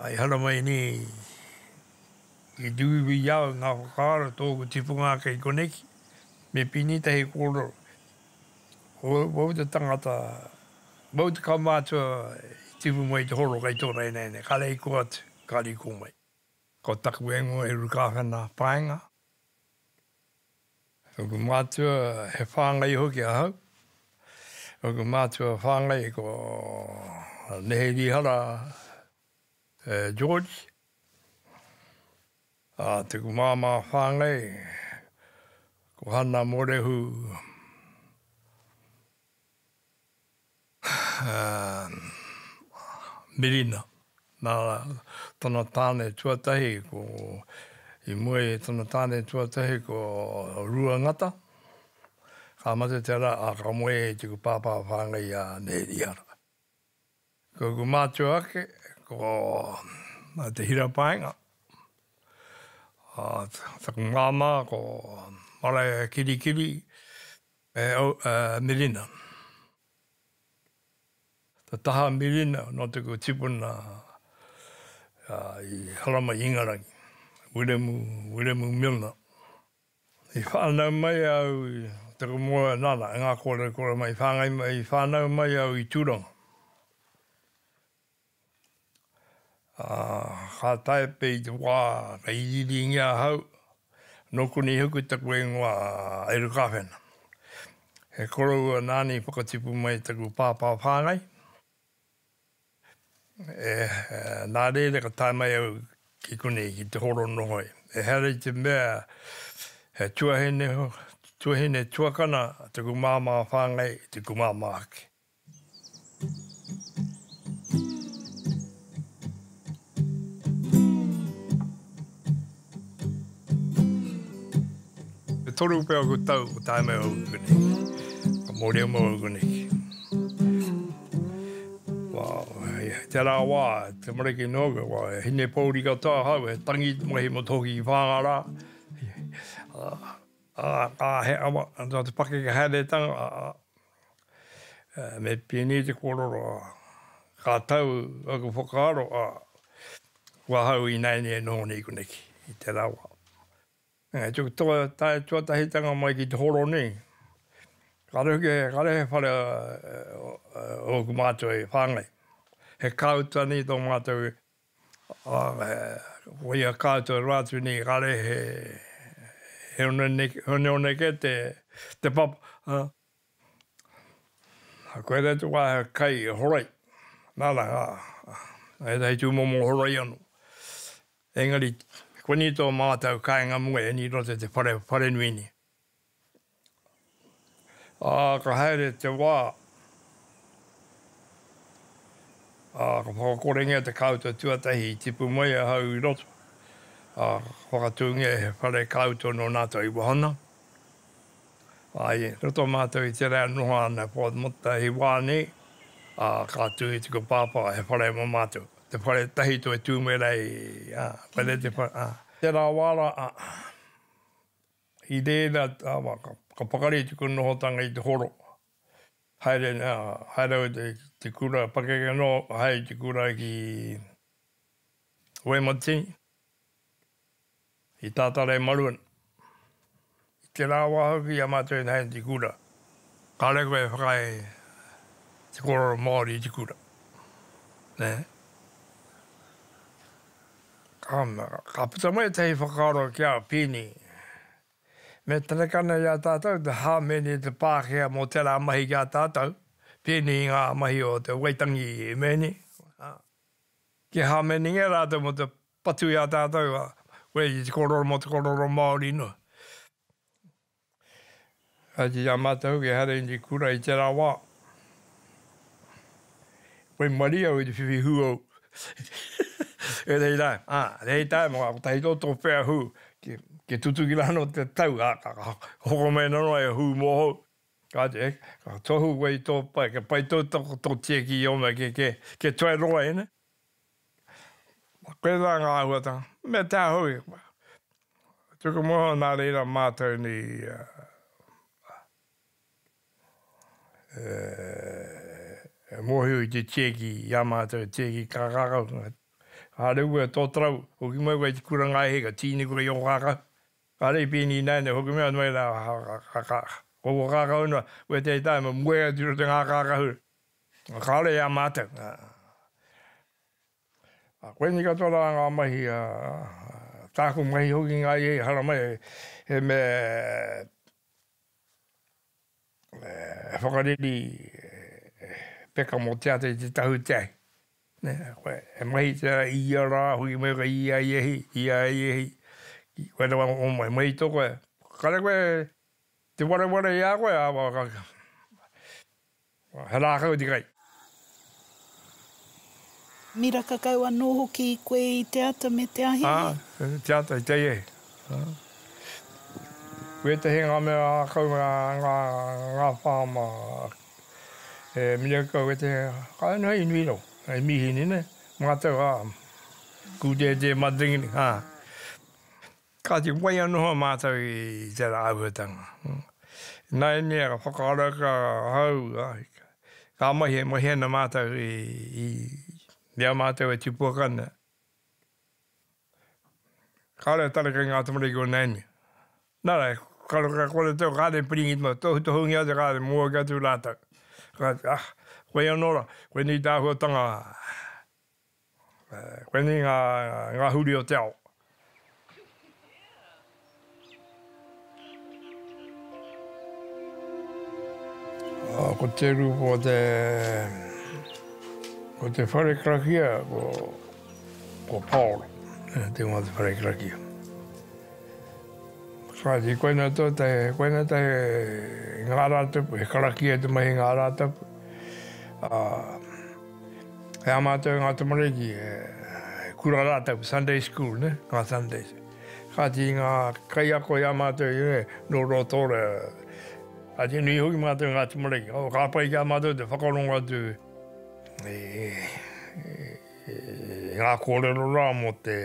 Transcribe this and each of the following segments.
I hara mai nei ki te uiui i a au ngā whakaaro tōku tipunga ake i koneki, me pini tahi kōrero. Ko au wau te tangata, wau te kaumātua i tipu mai te horo kei tō rainaina, kare i kō atu, kare i kō mai. Ko taku ingoa e Rukāwhena Paenga. Ōku mātua he whāngai hoki ahau. Ōku mātua whāngai ko Neherihara George. Ā, tōku māmā whāngai ko Hana Morehu Mirina, nā tana tāne tuatahi ko, i mua i tana tāne tuatahi ko Ruangata, ka mate tērā, ā, ka moe e tuku pāpā whāngai a Nēhirihara. Ko ūku mātua ake ko Te Hirapaenga, taku māmā ko Maraea Kirikiri, E au a Mirina. Te taha a Mirina nō te kua tipuna i Haramai i Ingarangi, Wiremu, Wiremu Milner. I whānau mai au i te moe, nana, e ngā kōrerikore mai, i whāngai mai, i whānau mai au i Tūranga. Ā, ka tae pea i te wā ka iriiringi ahau, nō konei hoki taku ingoa a Eru Kāwhena. He koroua nāna i whakatipu mai taku pāpā whāngai. E, nā reira ka tae mai au ki konei, ki te horo nohoi. Ehara i te mea he tuahine, tuahine tuakana taku māmā whāngai, taku māmā hoki. E toru pea ko tau ko tae mai au ki konei. Ka moria mau au konei. Kei te rā wā, te mariki noa koe, kua hine pōuri katoa ahau, he tangi mahi motu hoki ki Whāngārā. Ā, ā, he awa, nā te pakeke haeretanga, Me pēnei te kōrero, ā, ka tau aku whakaaro, ā, ko ahau ināianei e noho nei koneki i te rawa. Engari tuku tae tuatahitanga mai ki te horo nei, kāre hoki, kāre he whare ōku mātua i whāngai. He kāuta nei tō mātou Ko ia kātua rua atu nei kare he honeoneke te papa. Koe nei te wā he kai horoi, nāna ngā, ētahi tūmomo horoi anō. Engari, koni tō mātou kāinga mua e Nīroto te wharenui nei. Ā, ka haere te wā, ā, ka whakakorengia te kāuta tuatahi i tipu mai ahau i roto, ā, ka whakatūngia he whare kāuta nō Nātou i wahana, ā, i roto mātou i te rā e noho ana e Port Motta hei wā nei, ā, ka tū i taku Pāpā he whare mō mātou, te whare tahi toi tū mai rā i, ā, whare te whare, ā, tērā wā rā, ā. I reira tawa ka pakari tuku nohotanga i te horo. Haere na, haere au i te kura, pakeke no, haere i te kura ki Waimati, i Tatara-i-marua. I te ra wa hoki ia matou i haere i te kura. Kare koe e whakaae te korero Maori i te kura, ne? Ana, ka puta mai ētahi whakaaro ki a Pini. Me tareka nei i a tātou te hāmene i te Pākehā mō tērā mahi ki a tātou, pēnei i ngā mahi o te Waitangi Mene, ā, kia hāmenengia rātou mō te patu i a tātou, ā, koinei te kōrero mō te kōrero Māori noa. Kāti i a mātou hoki e haere i te kura i tērā wā. Whai marie au i te whiwhi hū au. E rei rā, ā, rei tā e mā, kotahi tō tō whea hū, kia tutuki rānō te tau, ā, ka hoko mai nō noa e hū mōhou. Kāti, ka tohu koe i tō pae, kia pai tō tiaki i ō mea kē, kia tuai roa e, nē? Koinā ngā āhuatanga, me te aha hoki, tuku moho nā reira mātou nei e mōhio i te tieki i a mātou, te tieki ka ngākau, kāore au e tōtarau, hoki mai koe i te kura ngāi hei ka tīni koe i ō kākau, kāore i pēnei i nāianei, hoki mai anō i rā, ko ō kākau noa, koe tētahi me moe atu i roto i ngā kākahu, Kāore i a mātou. Ā, koinei katoa rā ngā mahi, ā, tāku mahi hoki ngā ia i haramai, he mea e whakareri e peka mō te ata i te tahu i te ahi. Nē, koe e mahi tērā i ia rā hoki me koe i ia ia hi, i ia ia hi, ki koe rawa o mai, mai i tō koe, kare koe te wareware i a koe, ā, He rākau te kai. Miraka kau anō hoki koe i te ata me te ahi. Aa, te ata i te ahi hei. Wētahi ngā mea ākau ngā, ngā, ngā whāma e miraka kau, wētahi kai noa i nui rau, hei mīhini nei, mātau, aa, kū dēdē mā te ringa nei, aa. Kāti, waia noa mātou i tērā āhuatanga. Nāianei ka whakaaro ka hau, ka mahi e mahi ana mātou i i a mātou e tipuaka ana. Kāore a tareka i ngā tamariki o nāianei. Nā reira, ka roa kore tō, kāre piringi tō, tohutohungia atu, kāre mōaki atu rātou. Kāti, ah, koia nō rā, koinei tā āhuatanga Koinei ngā, ngā huri o te ao. Ko te uru, ko te, ko te whare karakia, ko, ko Paolo, te ingoa o te whare karakia. Kāti, koina tō te, koina te ngā rātapu, he karakia te mahi ngā rātapu. Uh, E a mātou ngā tamariki, e kura rātou, Sunday school, nē, ngā Sundays. Kāti i ngā kaiako i a mātou, nē, nō Rotorua. Kāti nui hoki mātou ngā tamariki. Oh, ka pai ki a mātou te whakarongo atu i ngā kōrero rā mō te,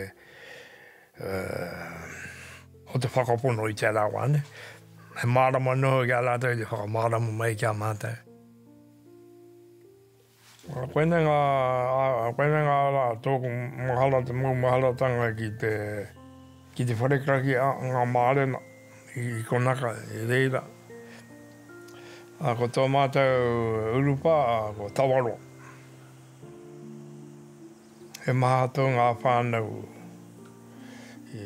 mō te whakapono i te ara wā, nē. He mārama noa ki a rātou te whakamārama mai ki a mātou. Koinei ngā, koinei ngā rā tōku mahara, te maumaharatanga ki te, ki te wharekaki a ngā mārena i konaka i reira. Ko tō mātou urupā ko Tawaroa. He maha atu ngā whānau i.